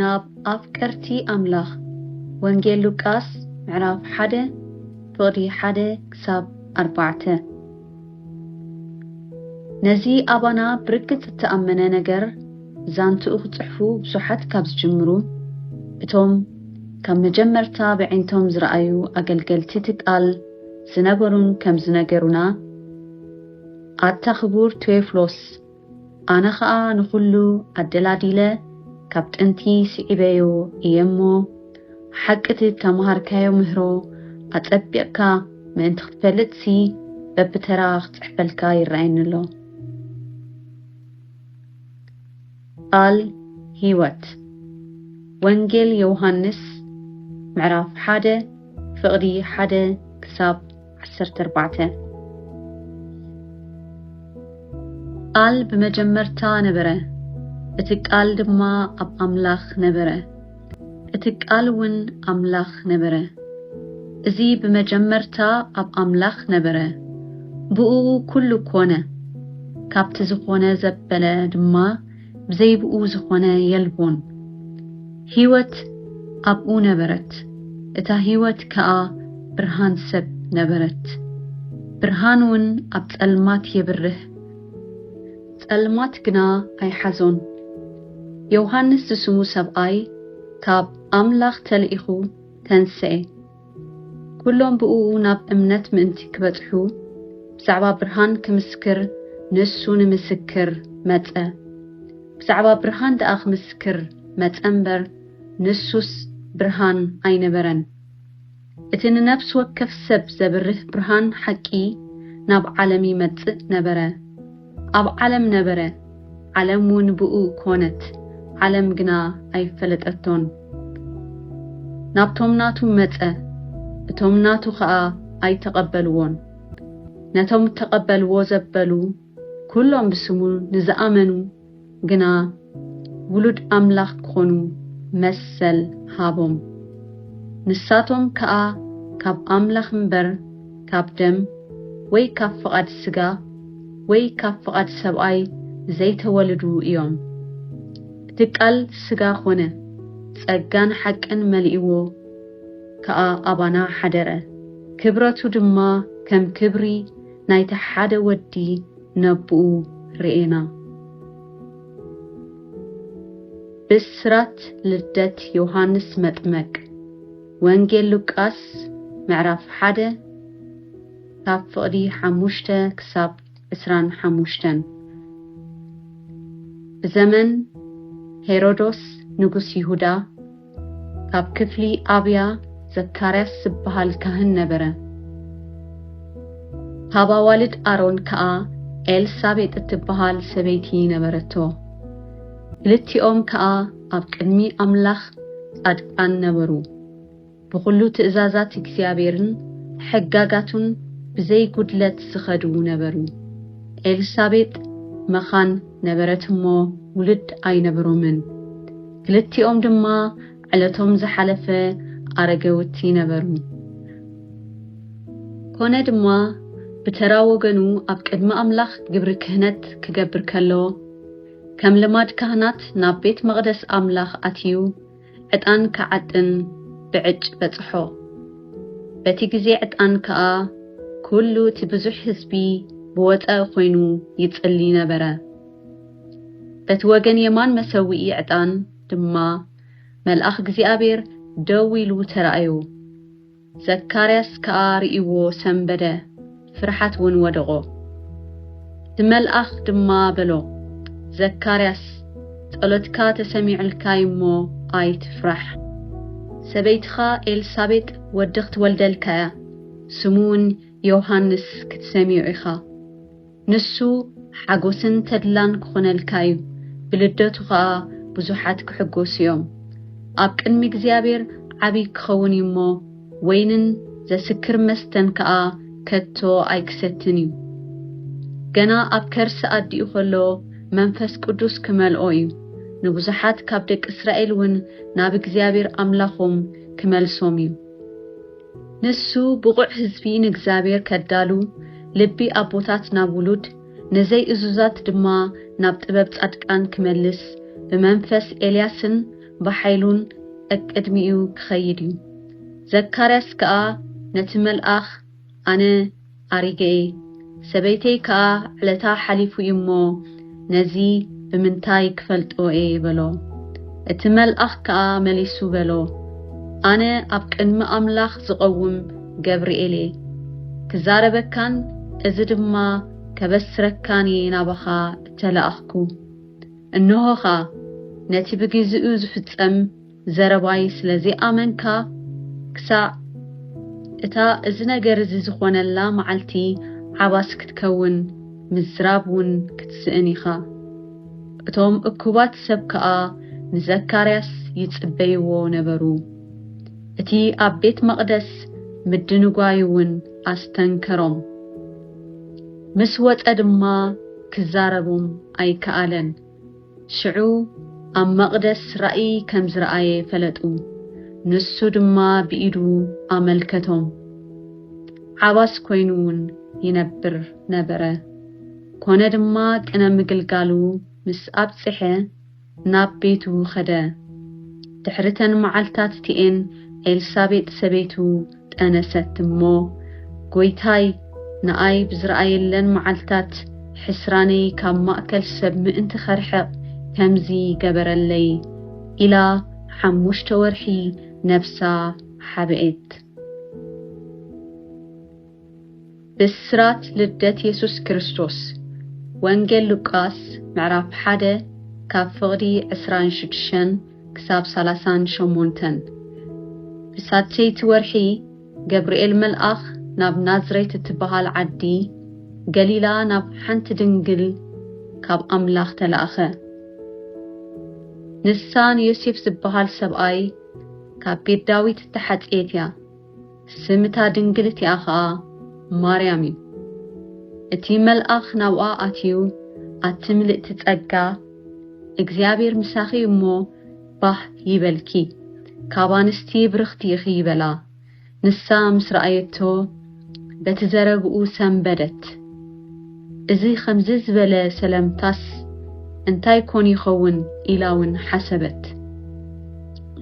ናብ ኣፍቀርቲ ኣምላኽ ወንጌል ሉቃስ ምዕራፍ ሓደ ፍቕዲ ሓደ ክሳብ ኣርባዕተ ነዚ ኣባና ብርግጽ እተኣመነ ነገር ዛንትኡ ክጽሕፉ ብዙሓት ካብ ዝጅምሩ እቶም ካብ መጀመርታ ብዒንቶም ዝረኣዩ ኣገልገልቲ እቲ ቃል ዝነበሩን ከም ዝነገሩና ኣታ ክቡር ቴዎፍሎስ ኣነ ኸኣ ንኹሉ ኣደላዲለ ካብ ጥንቲ ስዒበዮ እየ እሞ፣ ሓቂ እቲ እተመሃርካዮ ምህሮ ኣጸቢቕካ ምእንቲ ኽትፈልጥሲ፣ በብተራ ኽጽሕፈልካ ይረኣየኒ ኣሎ። ቃል ህይወት ወንጌል ዮውሃንስ ምዕራፍ ሓደ ፍቕዲ ሓደ ክሳብ ዓሰርተ ኣርባዕተ ቃል ብመጀመርታ ነበረ፣ እቲ ቃል ድማ ኣብ ኣምላኽ ነበረ፣ እቲ ቃል እውን ኣምላኽ ነበረ። እዚ ብመጀመርታ ኣብ ኣምላኽ ነበረ፣ ብእኡ ኩሉ ኮነ፣ ካብቲ ዝኾነ ዘበለ ድማ ብዘይብኡ ዝኾነ የልቦን። ህይወት ኣብኡ ነበረት፣ እታ ህይወት ከኣ ብርሃን ሰብ ነበረት። ብርሃንውን ኣብ ጸልማት የብርህ፣ ጸልማት ግና ኣይሓዞን። ዮውሃንስ ዝስሙ ሰብኣይ ካብ ኣምላኽ ተልኢኹ ተንስኤ። ኩሎም ብእኡ ናብ እምነት ምእንቲ ኪበጽሑ፣ ብዛዕባ ብርሃን ኪምስክር ንእሱ ንምስክር መጸ። ብዛዕባ ብርሃን ደኣ ኪምስክር መጸ እምበር፣ ንሱስ ብርሃን ኣይነበረን። እቲ ንነፍሲ ወከፍ ሰብ ዘብርህ ብርሃን ሓቂ ናብ ዓለም ይመጽእ ነበረ። ኣብ ዓለም ነበረ፣ ዓለም ውን ብእኡ ኮነት፣ ዓለም ግና ኣይፈለጠቶን። ናብቶም ናቱ መጸ፣ እቶም ናቱ ኸኣ ኣይተቐበልዎን። ነቶም እተቐበልዎ ዘበሉ፣ ኵሎም ብስሙ ንዝኣመኑ፣ ግና ውሉድ ኣምላኽ ክኾኑ መሰል ሃቦም። ንሳቶም ከኣ ካብ ኣምላኽ እምበር ካብ ደም ወይ ካብ ፍቓድ ስጋ ወይ ካብ ፍቓድ ሰብኣይ ዘይተወልዱ እዮም። እቲ ቃል ስጋ ኮነ፣ ጸጋን ሓቅን መሊእዎ ከኣ ኣባና ሓደረ። ክብረቱ ድማ ከም ክብሪ ናይቲ ሓደ ወዲ፣ ነቡኡ ርኤና። ብስራት ልደት ዮሃንስ መጥመቅ ወንጌል ሉቃስ ምዕራፍ ሓደ ካብ ፍቕዲ ሓሙሽተ ክሳብ ዕስራን ሓሙሽተን ብዘመን ሄሮዶስ ንጉስ ይሁዳ፣ ካብ ክፍሊ ኣብያ ዘካርያስ ዝበሃል ካህን ነበረ። ካብ ኣዋልድ ኣሮን ከኣ ኤልሳቤጥ እትበሃል ሰበይቲ ነበረቶ። ክልቲኦም ከኣ ኣብ ቅድሚ ኣምላኽ ጻድቃን ነበሩ፣ ብዅሉ ትእዛዛት እግዚኣብሔርን ሕጋጋቱን ብዘይ ጕድለት ዝኸዱ ነበሩ። ኤልሳቤጥ መኻን ነበረት እሞ ውሉድ ኣይነበሮምን። ክልቲኦም ድማ ዕለቶም ዝሓለፈ ኣረገውቲ ነበሩ። ኮነ ድማ ብተራ ወገኑ ኣብ ቅድሚ ኣምላኽ ግብሪ ክህነት ክገብር ከሎ፣ ከም ልማድ ካህናት ናብ ቤት መቕደስ ኣምላኽ ኣትዩ ዕጣን ክዓጥን ብዕጭ በጽሖ። በቲ ግዜ ዕጣን ከኣ ኩሉ እቲ ብዙሕ ህዝቢ ብወጸኢ ኮይኑ ይጽሊ ነበረ። በቲ ወገን የማን መሰውኢ ዕጣን ድማ መልኣኽ እግዚኣብሔር ደው ኢሉ ተራእዩ። ዘካርያስ ከኣ ርእይዎ ሰንበደ፣ ፍርሓት እውን ወደቖ። እቲ መልኣኽ ድማ በሎ፣ ዘካርያስ ጸሎትካ ተሰሚዑልካ እዩ እሞ ኣይትፍራሕ። ሰበይትኻ ኤልሳቤጥ ወዲ ክትወልደልካ እያ፣ ስሙ እውን ዮሃንስ ክትሰምዮ ኢኻ። ንሱ ሓጎስን ተድላን ክኾነልካ እዩ፣ ብልደቱ ኸኣ ብዙሓት ክሕጎሱ እዮም። ኣብ ቅድሚ እግዚኣብሔር ዓቢይ ክኸውን እዩ እሞ፣ ወይንን ዘስክር መስተን ከኣ ከቶ ኣይክሰትን እዩ። ገና ኣብ ከርሲ ኣዲኡ ከሎ መንፈስ ቅዱስ ክመልኦ እዩ፣ ንብዙሓት ካብ ደቂ እስራኤል እውን ናብ እግዚኣብሔር ኣምላኾም ክመልሶም እዩ። ንሱ ብቑዕ ህዝቢ ንእግዚኣብሔር ከዳሉ፣ ልቢ ኣቦታት ናብ ውሉድ፣ ንዘይ እዙዛት ድማ ናብ ጥበብ ጻድቃን ክመልስ፣ ብመንፈስ ኤልያስን ብሓይሉን ቀቅድሚኡ ክኸይድ እዩ። ዘካርያስ ከኣ ነቲ መልኣኽ ኣነ፣ ኣሪገኤ ሰበይተይ ከኣ ዕለታ ሓሊፉ እዩ እሞ ነዚ ብምንታይ ክፈልጦ እየ በሎ። እቲ መልኣኽ ከኣ መሊሱ በሎ ኣነ ኣብ ቅድሚ ኣምላኽ ዝቐውም ገብርኤል እየ። ክዛረበካን እዚ ድማ ከበስረካን እየ ናባኻ እተላእኽኩ። እንሆ ኸኣ ነቲ ብግዜኡ ዝፍጸም ዘረባይ ስለ ዘይኣመንካ ክሳዕ እታ እዚ ነገር እዚ ዝኾነላ መዓልቲ ዓባስ ክትከውን ምዝራብ ውን ክትስእን ኢኻ። እቶም እኩባት ሰብ ከኣ ንዘካርያስ ይጽበይዎ ነበሩ። እቲ ኣብ ቤት መቕደስ ምድንጓዩ ውን ኣስተንከሮም። ምስ ወጸ ድማ ክዛረቦም ኣይከኣለን። ሽዑ ኣብ መቕደስ ራእይ ከም ዝረኣየ ፈለጡ፣ ንሱ ድማ ብኢዱ ኣመልከቶም፣ ዓባስ ኮይኑውን ይነብር ነበረ። ኮነ ድማ ቅነ ምግልጋሉ ምስ ኣብጽሐ ናብ ቤቱ ኸደ። ድሕሪ ተን መዓልትታት እቲኤን ኤልሳቤጥ ሰበይቱ፣ ጠነሰት እሞ፣ ጐይታይ፣ ንኣይ ብዝረኣየለን መዓልትታት፣ ሕስራነይ ካብ ማእከል ሰብ ምእንቲ ኸርሕቕ፣ ከምዚ ገበረለይ፣ ኢላ ሓሙሽተ ወርሒ ነብሳ ሓብኤት። ብስራት ልደት የሱስ ክርስቶስ ወንጌል ሉቃስ ምዕራፍ ሓደ ካብ ፍቕዲ ዕስራን ሽዱሽተን ክሳብ ሰላሳን ሸሞንተን ብሳልሰይቲ ወርሒ ገብርኤል መልኣኽ ናብ ናዝሬት እትበሃል ዓዲ ገሊላ ናብ ሓንቲ ድንግል ካብ ኣምላኽ ተላእኸ። ንሳ ንዮሴፍ ዝበሃል ሰብኣይ ካብ ቤት ዳዊት እተሓጽየት እያ። ስም እታ ድንግል እቲኣ ኸኣ ማርያም እዩ። እቲ መልኣኽ ናብኣ ኣትዩ፣ ኣቲ ምልእቲ ጸጋ፣ እግዚኣብሔር ምሳኺ እዩ እሞ፣ ባህ ይበልኪ፣ ካብ ኣንስቲ ብርኽቲ ኢኺ በላ። ንሳ ምስ ረኣየቶ፣ በቲ ዘረብኡ ሰምበደት። እዚ ኸምዚ ዝበለ ሰለምታስ እንታይ ኰን ይኸውን? ኢላውን ሓሰበት።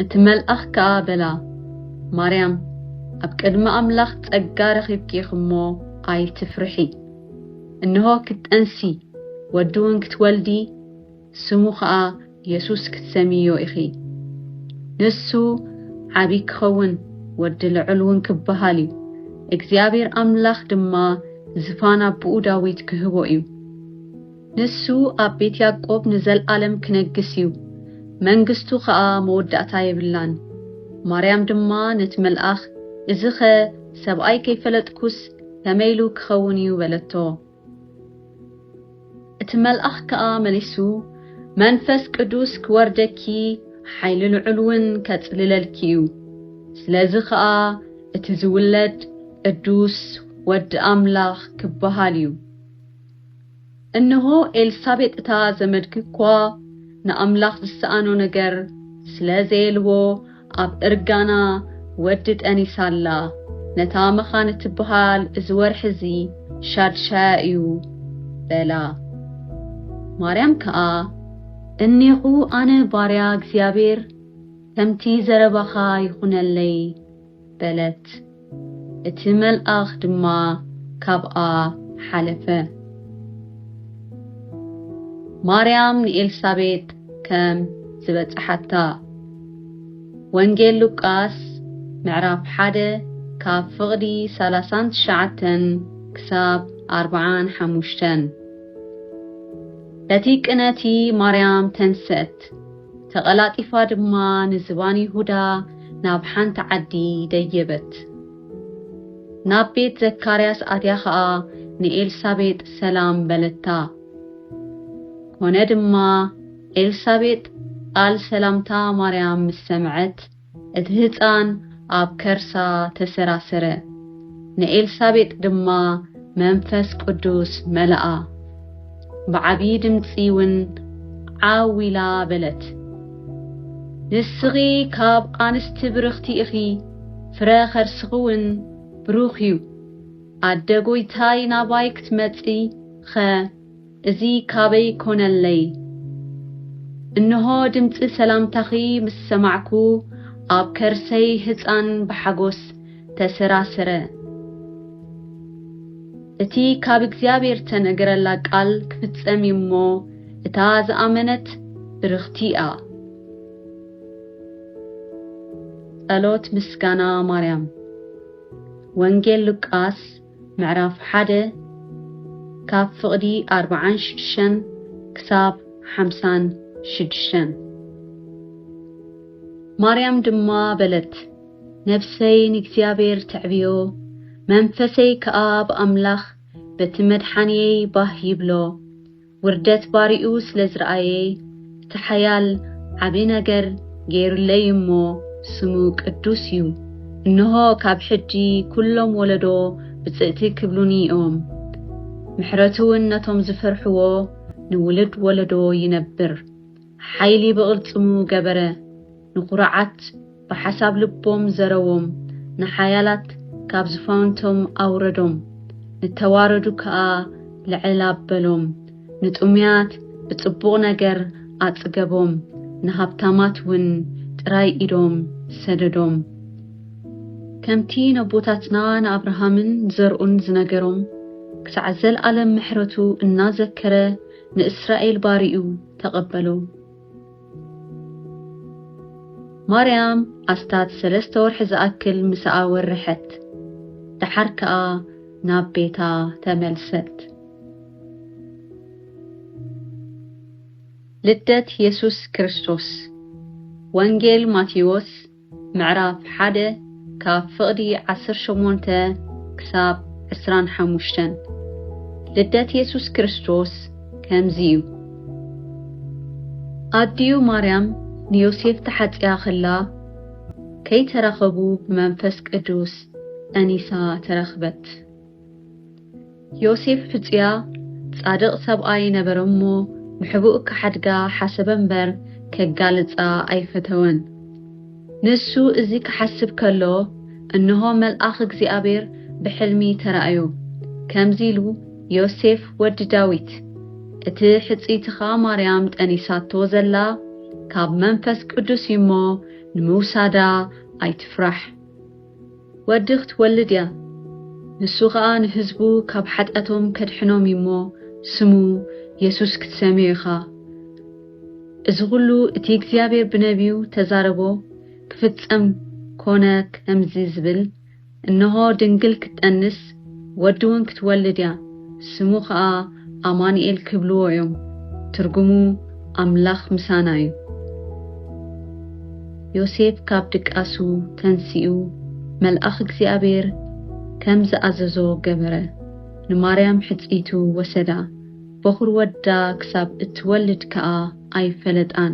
እቲ መልኣኽ ከኣ በላ፣ ማርያም፣ ኣብ ቅድሚ ኣምላኽ ጸጋ ረኺብኪ ኢኺ እሞ፣ ኣይትፍርሒ። እንሆ፣ ክትጠንሲ፣ ወድውን ክትወልዲ፣ ስሙ ኸኣ የሱስ ክትሰምይዮ ኢኺ። ንሱ ዓብዪ ኪኸውን፣ ወዲ ልዑልውን ኪብሃል እዩ፣ እግዚኣብሄር ኣምላኽ ድማ ዝፋን ኣቦኡ ዳዊት ኪህቦ እዩ። ንሱ ኣብ ቤት ያእቆብ ንዘለኣለም ኪነግስ እዩ፣ መንግስቱ ኸኣ መወዳእታ የብላን። ማርያም ድማ ነቲ መልኣኽ፣ እዚኸ ሰብኣይ ከይፈለጥኩስ ከመይ ኢሉ ኪኸውን እዩ? በለቶ። እቲ መልኣኽ ከኣ መሊሱ፣ መንፈስ ቅዱስ ኪወርደኪ፣ ሓይሊ ልዑልውን ኬጽልለልኪ እዩ። ስለዚ ኸኣ እቲ ዚውለድ፣ ቅዱስ ወዲ ኣምላኽ ኪበሃል እዩ። እንሆ፣ ኤልሳቤጥ እታ ዘመድኪ እኳ፣ ንኣምላኽ ዚሰኣኖ ነገር ስለ ዘየልቦ፣ ኣብ እርጋና ወዲ ጠኒ ሳላ ነታ መኻን እትብሃል እዚ ወርሒ እዚ ሻድሻያ እዩ በላ። ማርያም ከኣ እኔኹ ኣነ ባርያ እግዚኣብሔር ከምቲ ዘረባኻ ይኹነለይ በለት። እቲ መልኣኽ ድማ ካብኣ ሓለፈ። ማርያም ንኤልሳቤጥ ከም ዝበጽሓታ፣ ወንጌል ሉቃስ ምዕራፍ ሓደ ካብ ፍቕዲ ሰላሳን ትሽዓተን ክሳብ ኣርብዓን ሓሙሽተን። በቲ ቅነቲ ማርያም ተንሰት። ተቐላጢፋ ድማ ንዝባን ይሁዳ ናብ ሓንቲ ዓዲ ደየበት። ናብ ቤት ዘካርያስ ኣትያ ኸኣ ንኤልሳቤጥ ሰላም በለታ። ኰነ ድማ፣ ኤልሳቤጥ ቓል ሰላምታ ማርያም ምስ ሰምዐት፣ እቲ ህጻን ኣብ ከርሳ ተሰራሰረ፣ ንኤልሳቤጥ ድማ መንፈስ ቅዱስ መልኣ፣ ብዓብዪ ድምጺውን ዓው ኢላ በለት፣ ንስኺ ኻብ ኣንስቲ ብርኽቲ ኢኺ፣ ፍረ ኸርስኺውን ብሩኽ እዩ። ኣደ ጐይታይ ናባይ ክትመጽእኸ፣ እዚ ካበይ ኮነለይ እንሆ ድምጺ ሰላምታኺ ምስ ሰማዕኩ ኣብ ከርሰይ ህጻን ብሓጎስ ተሰራሰረ እቲ ካብ እግዚኣብሔር ተነገረላ ቃል ክፍጸም እዩ እሞ እታ ዝኣመነት ብርኽቲ እያ ጸሎት ምስጋና ማርያም ወንጌል ሉቃስ ምዕራፍ ሓደ ካብ ፍቕዲ ኣርብዓን ሽዱሽተን ክሳብ ሓምሳን ሽዱሽተን ማርያም ድማ በለት፣ ነፍሰይ ንእግዚኣብሔር ተዕብዮ፣ መንፈሰይ ከኣ ብኣምላኽ በቲ መድሓንየይ ባህ ይብሎ፣ ውርደት ባርይኡ ስለ ዝረኣየይ እቲ ሓያል ዓቢ ነገር ገይሩለይ እሞ ስሙ ቅዱስ እዩ እንሆ ካብ ሕጂ ኩሎም ወለዶ ብጽእቲ ክብሉኒ እዮም ምሕረቱውን ነቶም ዝፈርሕዎ ንውሉድ ወለዶ ይነብር ሓይሊ ብቕልጽሙ ገበረ፣ ንኩሩዓት ብሓሳብ ልቦም ዘረዎም፣ ንሓያላት ካብ ዝፋውንቶም ኣውረዶም፣ ንተዋረዱ ከኣ ልዕል ኣበሎም፣ ንጥሙያት ብጽቡቕ ነገር ኣጽገቦም፣ ንሃብታማት ውን ጥራይ ኢዶም ሰደዶም። ከምቲ ነቦታትና ንኣብርሃምን ዘርኡን ዝነገሮም፣ ክሳዕ ዘልኣለም ምሕረቱ እናዘከረ ንእስራኤል ባሪኡ፣ ተቐበሉ። ማርያም ኣስታት ሰለስተ ወርሒ ዝኣክል ምሳኣ ወረሐት፣ ደሓር ከኣ ናብ ቤታ ተመልሰት። ልደት የሱስ ክርስቶስ ወንጌል ማቴዎስ ምዕራፍ ሓደ ካብ ፍቕዲ ዓሰርተ ሸሞንተ ክሳብ ዕስራን ሓሙሽተን ልደት የሱስ ክርስቶስ ከምዚ እዩ። ኣዲኡ ማርያም ንዮሴፍ ተሓጽያ ኸላ ከይተራኸቡ ብመንፈስ ቅዱስ ጸኒሳ ተረኽበት። ዮሴፍ ሕጹያ ጻድቕ ሰብኣይ ነበረ እሞ፣ ንሕቡእ ኪሓድጋ ሓሰበ እምበር፣ ኬጋልጻ ኣይፈተወን። ንሱ እዚ ኪሓስብ ከሎ፣ እንሆ መልኣኽ እግዚኣብሔር ብሕልሚ ተራእዮ፣ ከምዚ ኢሉ፣ ዮሴፍ ወዲ ዳዊት፣ እቲ ሕጽይትኻ ማርያም ጠኒሳቶ ዘላ፣ ካብ መንፈስ ቅዱስ እዩ እሞ፣ ንምውሳዳ ኣይትፍራሕ። ወዲ ክትወልድ እያ ንሱ ከኣ ንህዝቡ ካብ ሓጢኣቶም ከድሕኖም እዩ እሞ ስሙ የሱስ ክትሰምዮ ኢኻ እዚ ኩሉ እቲ እግዚኣብሔር ብነብዩ ተዛረቦ ክፍጸም ኮነ ከምዚ ዝብል እንሆ ድንግል ክትጠንስ ወዲ ውን ክትወልድ እያ ስሙ ከኣ ኣማኒኤል ክብልዎ እዮም ትርጉሙ ኣምላኽ ምሳና እዩ። ዮሴፍ ካብ ድቃሱ ተንሲኡ መልኣኽ እግዚኣብሔር ከም ዝኣዘዞ ገበረ። ንማርያም ሕጽይቱ ወሰዳ፣ በዅሪ ወዳ ክሳብ እትወልድ ከኣ ኣይፈለጣን።